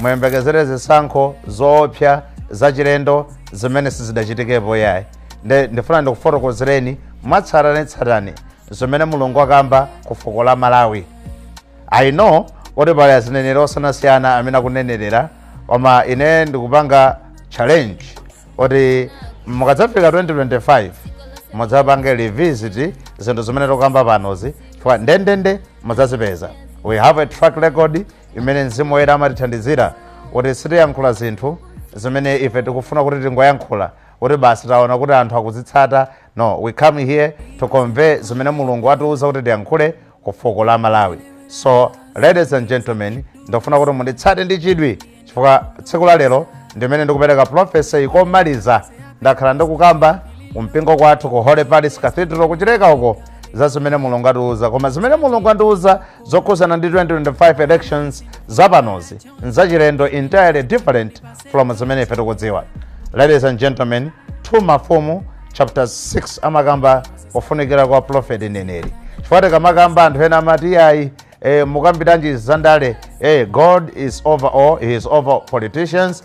muyembekezere zisankho zoopsa zachilendo zimene sizidachitikepo yayi nde ndifuna ndikufotokozereni mwatsatanetsatane zimene mulungu wakamba ku fuko la malawi i know kuti pali azineneri osiyanasiyana amene akunenerera koma ine ndikupanga challenge kuti mukadzafika 2025 mudzapange revisit zinthu zimene tikukamba panozi chifukwa ndendende mudzazipeza we have a track record imene mzimu woyera amatithandizira kuti sitiyankhula zinthu zimene ife tikufuna kuti tingoyankhula kuti basi taona kuti anthu akuzitsata no we come here to convey zimene mulungu atiuza kuti tiyankhule ku fuko la malawi so ladies and gentlemen ndikufuna kuti munditsate ndi chidwi chifukwa tsiku la lero ndimene ndikupereka prophecy komaliza ndakhala ndikukamba kumpingo kwathu ku holy palace cathedral kuchileka uko za zimene mulungu atiuza koma zimene mulungu andiuza zokhudzana ndi 2025 elections zapanozi nzachilendo entirely different from zimene ife tikudziwa ladies and gentlemen 2 mafumu chapter 6 amakamba kufunikira kwa prophet neneri chifukwa tikamakamba anthu ena amati iyayi eh, mukambiranji zandale eh, god is over all he is over politicians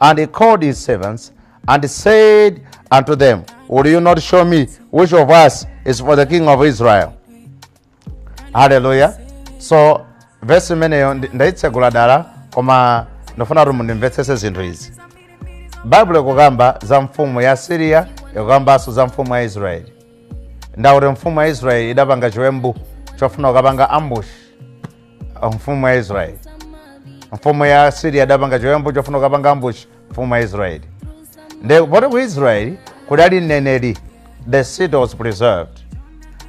And he called his servants and said unto them, Will you not show me which of us is for the king of Israel? Hallelujah. So verse imeneyo ndi- ndaitsegula dala koma ndifuna kuti mundimvetsese zinthu izi. Baibulo ikukamba za mfumu ya Siriya ikukambanso za mfumu ya Israeli. Ndi kuti mfumu ya Israeli idapanga chiwembu chofuna kukapanga ambushi mfumu ya israeli mfumu ya asiriya adapanga chiwembu chofuna kukapanga ambushi mfumu ya israeli nde poti ku israeli kudali mneneri the city was preserved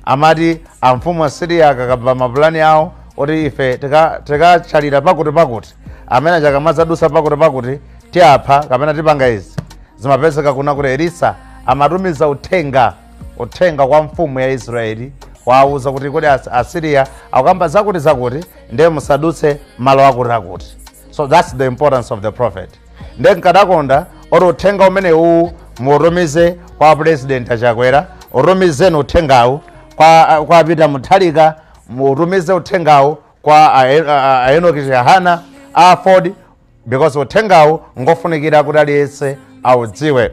amati amfumu asiriya akakamba mapulani awo kuti ife tika- tikachalira pakuti pakuti amene akamadzadutsa pakuti pakuti tiapha kapena tipanga izi zimapezeka kuna kuti elisa amatumiza uthenga uthenga kwa mfumu ya israeli wawuza kuti kodi As- asiriya akukamba zakuti zakuti ndiye musadutse malo akuti akuti so thats the importance of the prophet nde nkadakonda oti uthenga umene uwu mutumize kwa president achakwera utumizeni uthengawu kwa, kwa peter mutharika mutumize uthengawu kwa a- a- a- a enoki chihana aford because uthengawu ngofunikira kuti aliyense audziwe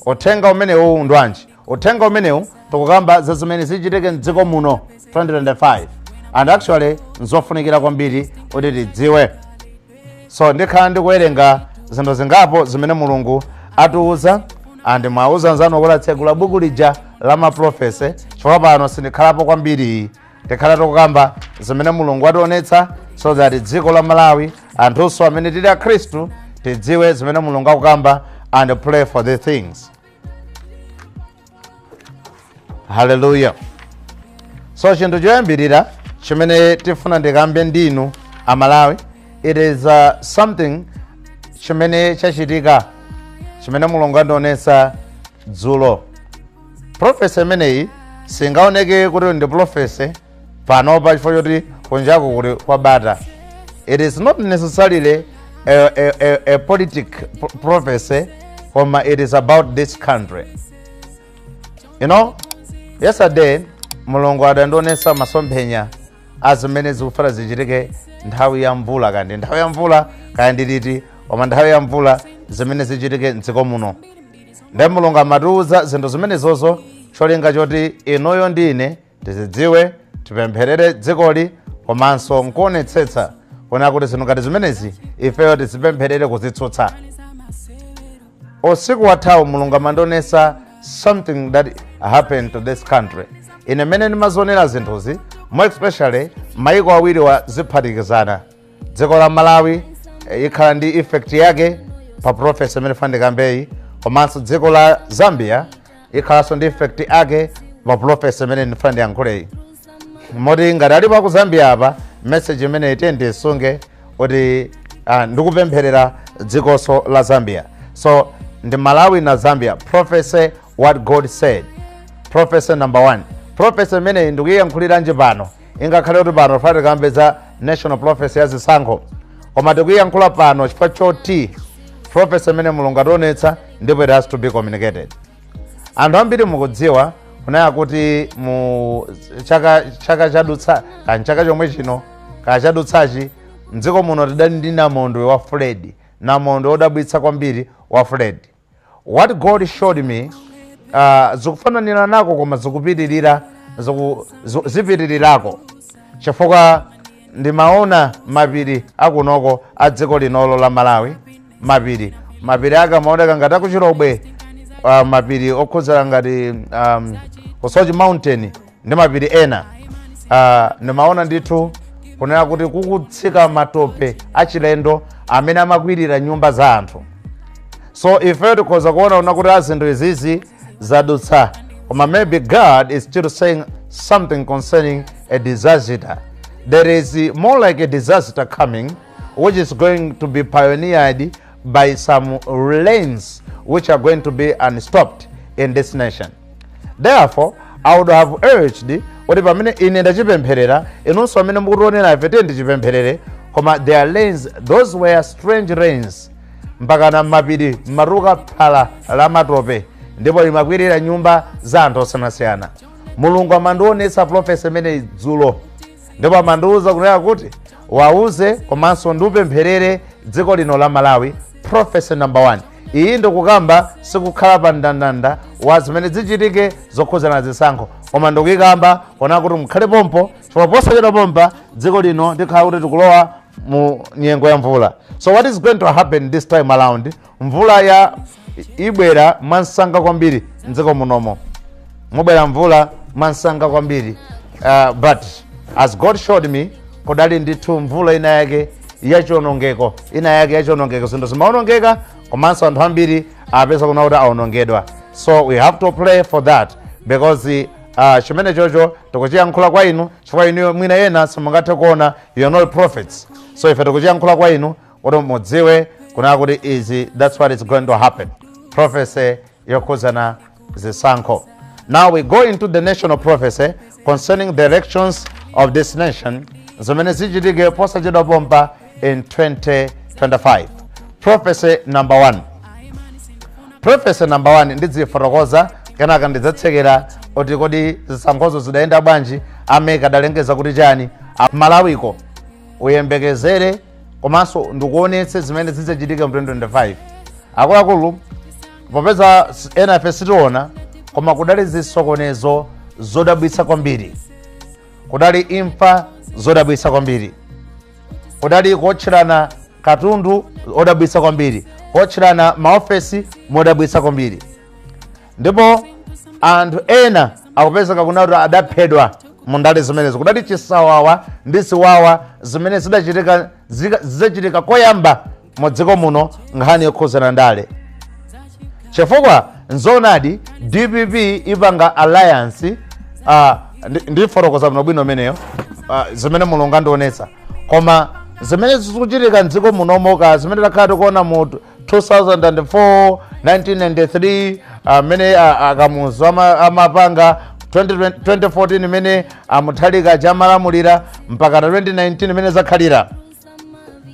uthenga umenewu ndwanji uthenga umenewu tikukamba za zimene zichitike mdziko muno 2025 and actually nzofunikira kwambiri kuti tidziwe so ndikhala ndikuwerenga zinthu zingapo zimene mulungu atiuza and mwauza nzanu kuti atsegule buku lija la maprofesi chifukwa pano sindikhalapo kwambiri tikhala tikukamba zimene mulungu ationetsa so that dziko la malawi anthunso amene tili akhristu tidziwe zimene mulungu akukamba and pray for the things haleluya so chinthu choyambirira chimene tifuna ndikambe ndinu amalawi it is uh, something chimene chachitika chimene mulungu andionesa dzulo profesi imeneyi singaoneke kuti ndi profesi panopa chifukwa choti kunjaku kuli kwabata it is not necessarily a, a, a, a politic prophecy koma it is about this country you know yesterday mulungu adandionesa masomphenya a zimene zikufuna zichitike nthawi ya mvula kandi nthawi ya mvula kaya ndiliti koma nthawi ya mvula zimene zichitike mdziko muno nde mulungu amatiuza zinthu zimenezozo cholinga choti inuyo ndi ine tizidziwe tipempherere dzikoli komanso nkuonetsetsa kuona kuti zinthu ngati zimenezi ifeyo tizipempherere kuzitsutsa usiku wathawu mulungu amandionesa something that happened to this country ine mmene ndimazionera zinthuzi more especially maiko awiriwa ziphatikizana dziko la malawi eh, ikhala ndi effect yake pa profesi imene ndifuna ndikambeyi komanso dziko la zambia ikhalanso ndi effect yake pa profesi imene ndifuna ndiyankhuleyi moti ngati alipo aku zambia apa message imeneyi itha ndisunge kuti ah, ndikupempherera dzikonso la zambia so ndi malawi na zambia prophecy what god said prophecy number one prophecy imeneyi ndikuyiyankhuliranji pano ingakhale kuti pano tifuna tikambe za national prophecy ya zisankho koma tikuyiyankhula pano chifukwa choti prophecy imene mulungu ationetsa ndipo it has to be communicated anthu ambiri mukudziwa kunena kuti mu chaka chaka chadutsa kaya chaka chomwe chino kaya chadutsachi mdziko muno tidali ndi namondwe wa fred namondwe odabwitsa kwambiri wa fred What God showed me uh, zikufananirako koma zikupitirira ziku, zu- zipitirirako chifukwa ndimaona mapiri akunoko a dziko linolo la malawi mapiri mapiri ake amaoneka ngati a ku Chilobwe uh, mapiri okhudzira ngati um, ku Soche mountain ndi mapiri ena ah, ndimaona ndithu kunena kuti kukutsika matope achilendo amene amakwirira nyumba za anthu so ifeyo tikhoza kuona kunena kuti a zinthu izizi zadutsa koma maybe god is still saying something concerning a disaster there is uh, more like a disaster coming which is going to be pioneered by some rains which are going to be unstopped in this nation therefore i would have urged kuti pamene ine ndachipempherera inunso amene mukutionera ife tiye ndichipempherere koma the rains those were strange rains mpaka m'mapiri mumatuluka phala la matope ndipo limakwirira nyumba za anthu osiyanasiyana mulungu amandionetsa prophecy imeneyi dzulo ndipo amandiuza kunena kuti wauze komanso ndi kupempherera dziko lino la malawi prophecy number one iyi ndikukamba siikukhala pa mndandanda wa zimene zichitike zokhudzana zisankho koma ndikuyikamba kunena kuti mukhale pompo chifukwa posachedwa pompa dziko lino tikhala kuti tikulowa mu nyengo ya mvula so what is going to happen this time around mvula iyi ibwera mwamsanga kwambiri mdziko munomo mubwera mvula mwamsanga kwambiri uh, but as god showed me kudali ndithu mvula ina yake ya chionongeko ina yake ya chionongeko zinthu zimaonongeka komanso anthu ambiri apezeka kunena kuti aonongedwa so we have to pray for that because uh, chimene chocho tikuchiyankhula kwa inu chifukwa inu mwina ena simungathe kuona you are not prophets so ife tikuchiyankhula kwa inu kuti mudziwe kunena kuti izi that's what is going to happen prophecy yokhudzana zisankho now we go into the national prophecy concerning the elections of this nation zimene zichitike posachedwa pompa in 2025 prophecy number 1 prophecy number 1 ndidziifotokoza kenaka ndidzatsekera kuti kodi zisankhozo zidayenda bwanji a MEC adalengeza kuti chani A- malawi koma uyembekezere komanso ndikuonetse zimene zidzachitika mu 2025 akuluakulu popeza s- enafe sitiona koma kudali zisokonezo zodabwitsa kwambiri kudali imfa zodabwitsa kwambiri kudali kuotcherana katundu odabwitsa kwambiri kuotcherana maofesi modabwitsa kwambiri ndipo anthu ena akupezeka kunena kuti adaphedwa mu ndale zimenezo kudali chisawawa ndi ziwawa zimene zidachitika zika- zidzachitika koyamba mu dziko muno nkhani yokhuzana ndale chifukwa nzoonadi dpp ipanga alliance uh, ndifotokoza bwino bwino imeneyo uh, zimene mulungu andionetsa koma zimene zikuchitika mdziko munomo zimene takhala tikuona mu 2004 1993 amene a- akamuzu ama- amapanga 2020 2014 imene a mutharika amalamulira mpaka na 2019 mmene zakhalira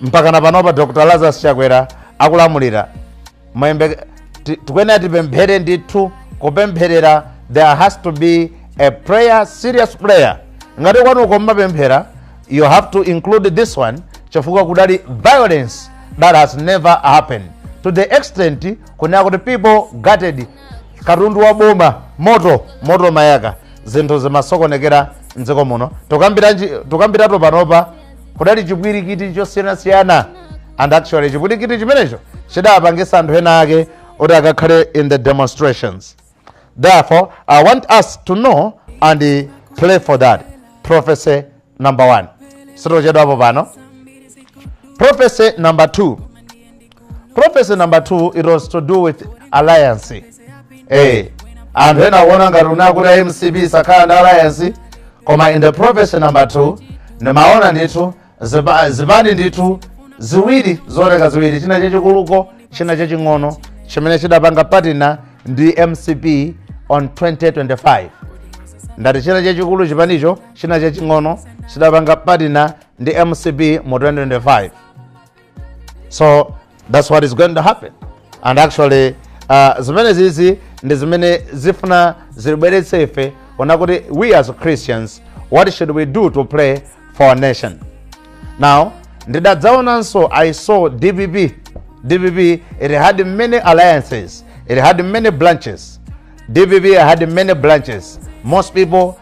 mpaka na panopa dr lazarus chakwera akulamulira Mayembe- ti- tikuyenera tipemphere ndithu kupempherera there has to be a prayer serious prayer ngati kwanuko mmapemphera you have to include this one chifukwa kudali violence that has never happened to the extent kunena kuti people gutted katundu wa boma moto moto mayaka zinthu zimasokonekera mdziko muno tukambiratu panopa kudali chipwirikiti chosiyanasiyana and actually chipwirikiti chimenecho chidapangisa anthu ena ake kuti akakhale in the demonstrations Therefore, I want us to know and uh, pray for that. Prophecy number one. Sitochedwapo pano. Prophecy number two. Prophecy number two, it was to do with alliance. Eh, anthu ena akuona ngati kunena kuti mcp sikhala ndi alliance koma in the prophecy number two ndimaona ndithu Zipa- zipani ndithu ziwiri zooneka ziwiri china chachikuluko china chaching'ono chimene chidapanga patina ndi mcp on 2025 ndati china chachikulu chipanicho china chaching'ono chidapanga patina ndi mcp mu 2025 so that's what is going to happen and actually uh, zimene zizi ndi zimene zifuna zilibweretse ife ona kuti we as christians what should we do to pray for our nation now ndidadzaonanso i saw dpp dpp it had many alliances it had many branches dpp had many branches most people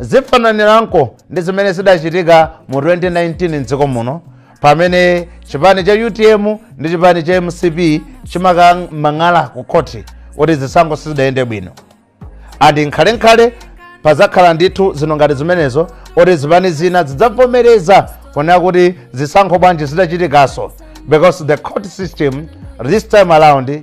Zifananirako ndi zimene zidachitika mu 2019 m'dziko muno pamene chipani cha utm ndi chipani cha mcp chimakamang'ala ku khoti kuti zisankho sizidayende bwino and nkhalenkhale pazakhala ndithu zinthu ngati zimenezo kuti zipani zina zidzavomereza kunena kuti zisankho bwanji zidachitikanso because the court system this time around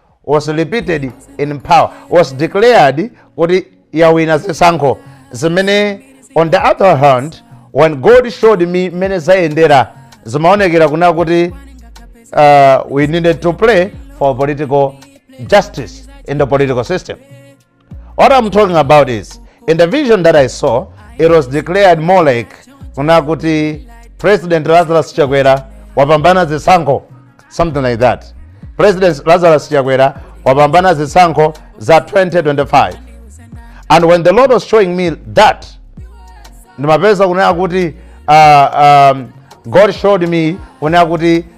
was repeated in power was declared kuti yawina zisankho zimene on the other hand when god showed me mmene zayendera zimaonekera kuna kuti uh, we needed to play for political justice in the political system What I'm talking about is, in the vision that I saw, it was declared more like kunena kuti President Lazarus Chakwera wapambana zisankho, something like that. President Lazarus Chakwera wapambana zisankho za 2025. And when the Lord was showing me that, ndimapeza kunena kuti uh, um, God showed me kunena kuti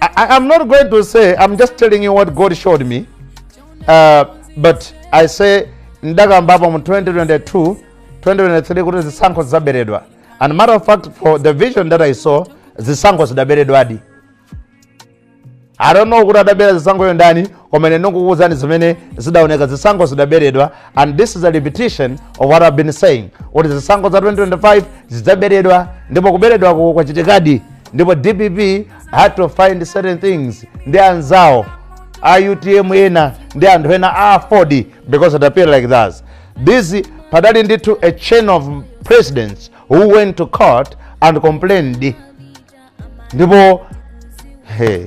I, am not going to say, I'm just telling you what God showed me. Uh, but I said, ndakambapo mu 2022, 2023 kuti zisankho zaberedwa. And matter of fact, for the vision that I saw, zisankho zidaberedwadi. I don't know kuti adabera zisankhozo ndani, koma ine ndingokuwuzani zimene zidaoneka zisankho zidaberedwa and this is a repetition of what i've been saying kuti zisankho za 2025 zidzaberedwa ndipo kuberedwako kwachitikadi ndipo dpp had to find certain things ndi anzawo a utm ena ndi anthu ena a aford because it appeared like that this padali ndithu a chain of presidents who went to court and complained ndipo hey,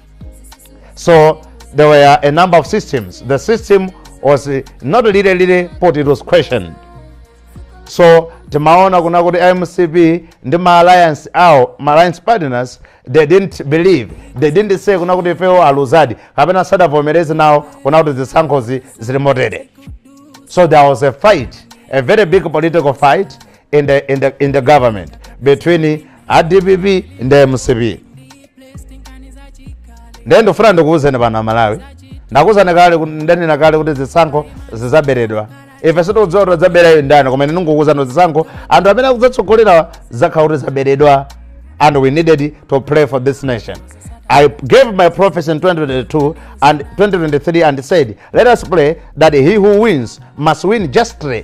So there were a number of systems. The system was uh, not really, really put, it was questioned. So timaona kuna kuti amcp ndi ma alliance awo ma alliance partners they didn't believe they didn't say kuna kuti ifewo aluzadi kapena sadavomereze nawo kuna kuti zisankhozi zili motere so there was a fight a very big political fight in the, in the, in the government between adpp ndi mcp ndiye ndifuna ndikuwuzeni pano amalawi ndakuwuzani kale kuti- ndanena kale kuti zisankho zizaberedwa ife sitikudziwa kuti zaberayo ndani koma ine ndikukuwuzani kuti zisankho anthu amene akudzatsogolerawa zidzakhala kuti zaberedwa and we needed to pray for this nation i gave my prophecy in 2022 and 2023 and said let us pray that he who wins must win justly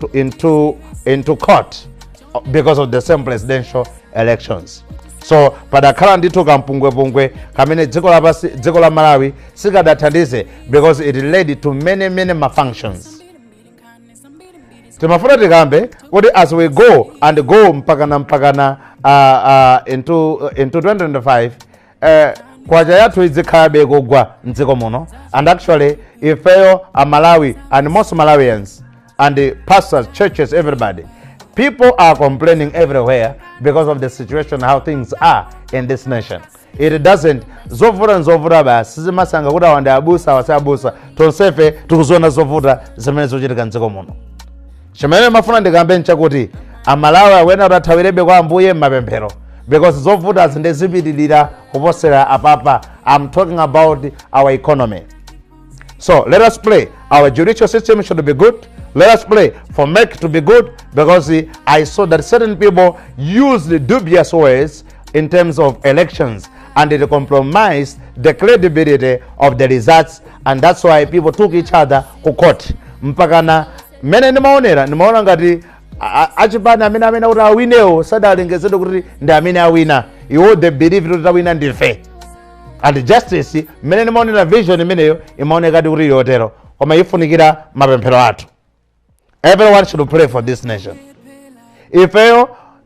to, into, into court because of the same presidential elections so padakhala ndithu ka mpungwepungwe kamene dziko lapasi dziko la malawi sikadathandize because it led to many many malfunctions timafuna tikambe kuti as we go and go mpakana mpakana uh, uh, into, into 2025 eh, kwacha yathu idzikhalabe kugwa mdziko muno and actually ifeyo a malawi and most malawians and the pastors churches everybody people are complaining everywhere because of the situation how things are in this nation it doesn't zovuta ndi zovuta basi sizimasankha kuti awa ndi abusa awa si abusa tonsefe tikuziona zovuta zimene zikuchitika mdziko muno chimene ndimafuna ndikambe nchakuti amalawi akuyenera kuti athawirebe kwa ambuye m'mapemphero because zovuta zindizipitirira kuposera apapa i'm talking about our economy so let us pray our judicial system should be good let us pray for mec to be good because i saw that certain people used dubious ways in terms of elections and it compromised the credibility of the results and that's why people took each other ku court mpakana mmene ndimaonera ndimaona ngati a- a- achipani amene amene kuti awinewo sadalengezedwe kuti ndi amene awina iwo they believe kuti tawina ndife and justice mmene ndimaonera vision imeneyo imaonekadi kuti yotero koma ifunikira mapemphero athu everyone should pray for this nation ifeyo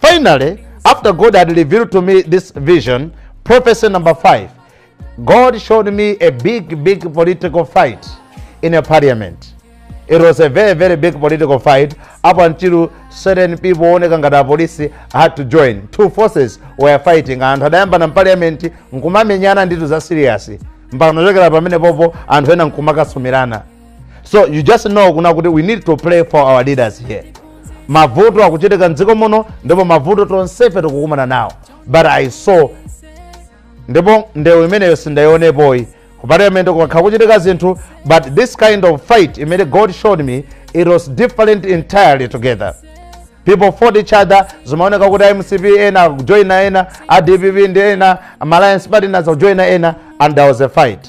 Finally, after God had revealed to me this vision, prophecy number five, God showed me a big, big political fight in a parliament. It was a very, very big political fight up until certain people oneka ngati apolisi had to join. Two forces were fighting. Anthu adayambana mparliament nkumamenyana nditu za serious. Mpaka nachokera pamene popo anthu ena nkumakasumirana. so you just know kuna kuti we need to pray for our leaders here mavuto akuchitika mdziko muno ndipo mavuto tonsefe tikukumana nawo but i saw ndipo ndewu imeneyo sindayionepoyi ku parliament kukakhala kuchitika zinthu but this kind of fight imene god showed me it was different entirely together people fought each other zimaoneka kuti amcp ena akujoina ena adpp ndi ena alliance partners akujoina ena and there was a fight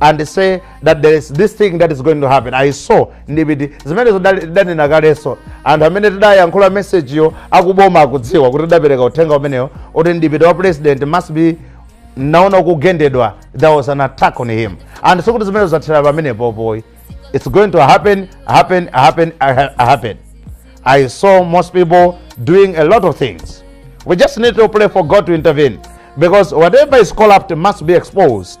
and say that there is this thing that is going to happen i saw deputy zimenezo dali- tidanena kalenso anthu amene tidayankhula mesejiyo akuboma akudziwa kuti tidapereka uthenga umenewo woti deputy wa president must be naona kugendedwa there was an attack on him and sikuti zimenezo zathera pamenepo boy it's going to happen happen happen ha- happen i saw most people doing a lot of things we just need to pray for god to intervene because whatever is corrupt must be exposed